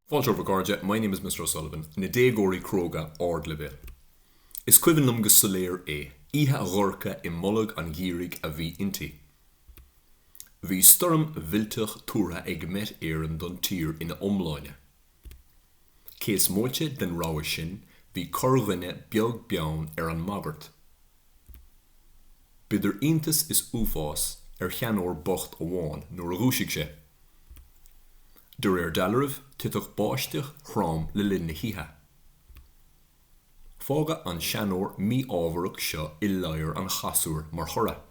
Fáilte romhaibh a chairde, my name is Mr. O'Sullivan, na déagóirí cróga ardleibhéil. Is cuimhin liom go soiléir é, oíche dhorcha i mbolg an gheimhridh a bhí inti. Bhí stoirm mhillteach tuartha ag Met Éireann don tír ina iomláine. Cé is móite den rabhadh sin, bhí corrdhuine beag beann ar an mbagairt. Bhí idir iontas is uafás ar sheanóir bocht amháin nuair a dhúisigh sé. De réir dealraimh, thit báisteach throm le linn na hoíche. Fágadh an seanóir mí-ámharach seo i ladhar an chasúir mar thoradh.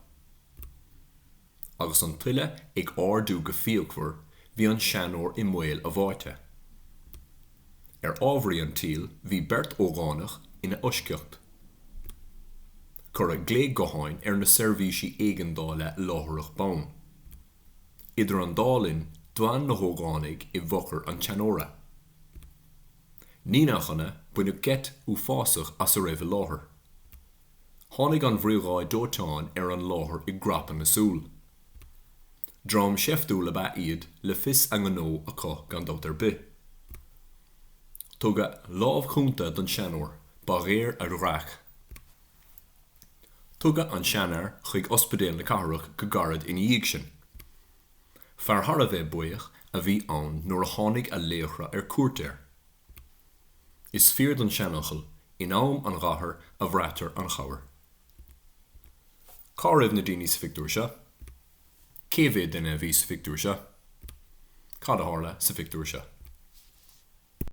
Agus an tuile ag ardú go fíochmhar, bhí an seanóir i mbaol a bháite. Ar ámharaí an tsaoil, bhí beirt ógánach ina fhoisceacht. Cuireadh glao gutháin ar na seirbhísí éigeandála láithreach bonn. Idir an dá linn d'fan na hógánaigh i bhfochair an tseanóra. Ní nach ionadh baineadh geit uafásach as a raibh i láthair. Tháinig an bhriogáid dóiteáin ar an láthair i bprapadh na súl. Dream seiftiúil ab ea iad le fios a ngnó acu gan dabht ar bith. Tugadh lámh chúnta don seanóir, ba dhearóil a dhreach. Tugadh an seanfhear chuig Ospidéal na Cathrach go gairid ina dhiaidh sin. Fear thar a bheith buíoch a bhí ann nuair a tháinig a laochra ar cuairt air. Is fíor don seanfhocal, In am an ghátair a bhraitear an chabhair. Cá raibh na daoine sa phictiúr seo? Cé mhéad duine a bhí sa phictiúr seo? Cad a tharla sa phictiúr seo?